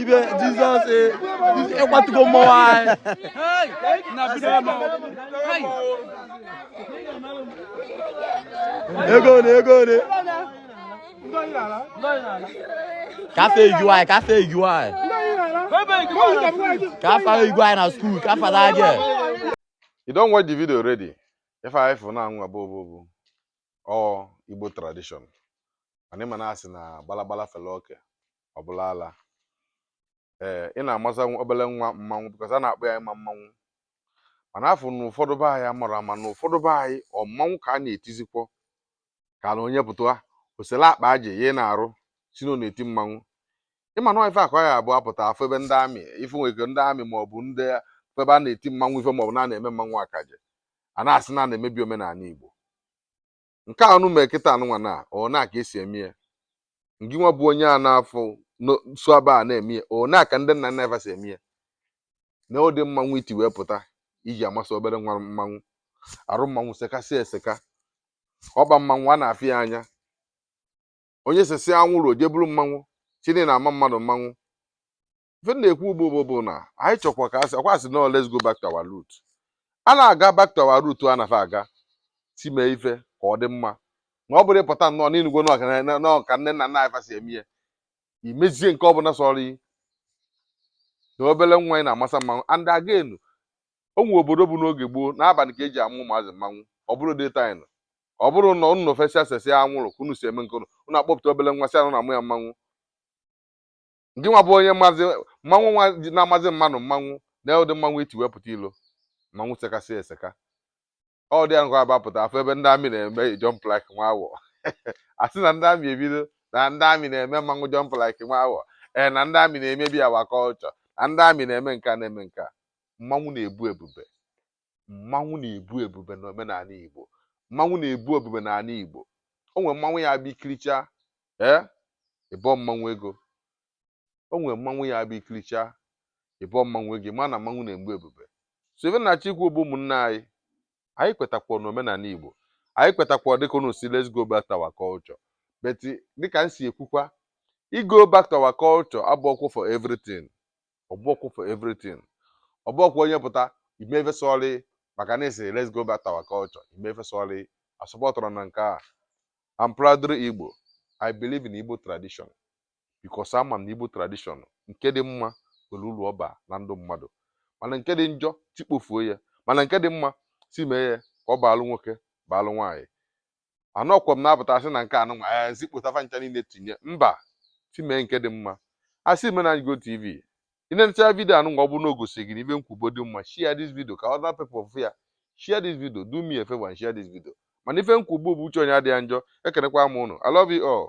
ibe jizọs ịkwatugo mmọnwụ anyị ego ole ego ole kafe eju anyị kafe eju anyị kafe eju anyị na school kafe na aje you don watch the video already ife anyị fụ nụnwa a bụ ọ bụ ọ bụ ọ igbo tradition mana ị ma na a sị na gbalagbala fele oke ọ bụlụ ala ee ị na-amasa obele nwa mmanwụ because a na-akpọ ya ịma mmanwụ mana a fụ na ụfọdụ be anyị amara ama na ụfọdụ be anyị ọ mmanwụ ka a na-etizikwo ka na onye pụta o sele akpa aji yie n'arụ sị na ọ na-eti mmanwụ ị ma na ife a ka ya-abụ a pụta a fụ ebe ndị army ife nwere ike ndị army maọbụ ndị ebe a na-eti mmanwụ ife maọbụ na na-eme mmanwụ akaje a na-asị na a na-emebi omenala Igbo nke a unu mee kịta a nụnwa na ọ na ka e si eme ya ngị nwa bụ onye a na-afụ so ebe a na-eme ya ọ na ka ndị nna nna ị fa si eme ya na ụdị mmanwụ i ti wee pụta i ji amasị obere nwa mmanwụ arụ mmanwụ sekasị eseka ọkpa mmanwụ a na-afụ ya anya onye sesịa anwụrụ o je buru mmanwụ chini na-ama mmadụ mmanwụ ife m na-ekwu ugbu a bụ bụ na anyị chọkwa ka a sị ọkwa a sị na let's go back to our root a na-aga back to our root a nafe a ga-esi mee ife ka ọ dị mma na ọ bụrọ ịpụta nnọọ na ị nụgo na ọ ka na- na ọ ka nne na nna anyị fa si eme ihe i mezie nke ọbụla sọrọ ị na obere nwa ị na-amasa mmanwụ and again o nwere obodo bụ n'oge gboo n'abanị ka e ji ama ụmụazị mmanwụ ọ bụrọ daytime ọ bụrọ na unu fesịa sesịa anwụrụ ka unu si eme nke unu unu akpọpụta obere nwa sị na unu na-ama ya mmanwụ ngị nwa bụ onye mmanwụ nwa na-amazi mmadụ mmanwụ na ụdị mmanwụ i ti wee pụta ilo mmanwụ sekasị eseka ọ dị ya ngwa a bapụta a fụ ebe ndị army na-eme jump like nwa awọ a sị na ndị army ebido na ndị army na-eme mmanwụ jump like nwa awọ ee na ndị army na-emebi our culture na ndị army na-eme nke a na-eme nke a mmanwụ na-ebu ebube mmanwụ na-ebu ebube na omenala Igbo mmanwụ na-ebu ebube n'anị Igbo o nwere mmanwụ ya-abụ i kirichaa ee ị bọọ mmanwụ ego o nwere mmanwụ ya-abụ i kirichaa ị bọọ mmanwụ ego ma na mmanwụ na-ebu ebube so ife m na-achọ ikwu bụ ụmụnne anyị anyị kwetakwa na omenala igbo anyị kwetakwa dịka unu sị let's go back to our culture but dịka m si ekwukwa ịgo back to our culture abụọkwa for everything ọ bụọkwa for everything ọ bụọkwa onye pụta i mee ife sọrọ ị maka na a sị let's go back to our culture i mee ife sọrọ ị asọpọtụrọ m nke a I'm proudly Igbo. I believe in Igbo tradition. because ama m na igbo tradition nke dị mma nwere uru ọ ba na ndụ mmadụ mana nke dị njọ tikpofuo ya mana nke dị mma si mee ya ka ọ baalụ nwoke baalụ nwaanyị anọkwa m na-apụta asị na nke anụnwa ee zikpụta fa ncha niile tinye mba si mee nke dị mma asị me na igbo tv ị na-enecha vidio anụnwa ọ bụrụ na o gosi gị n'ife m kwubo dị mma share this video ka other people fụ ya share this video do me a favor and share this video mana ife m kwubo bụ uche onye adịghị njọ ekenekwa m ụnụ i love you all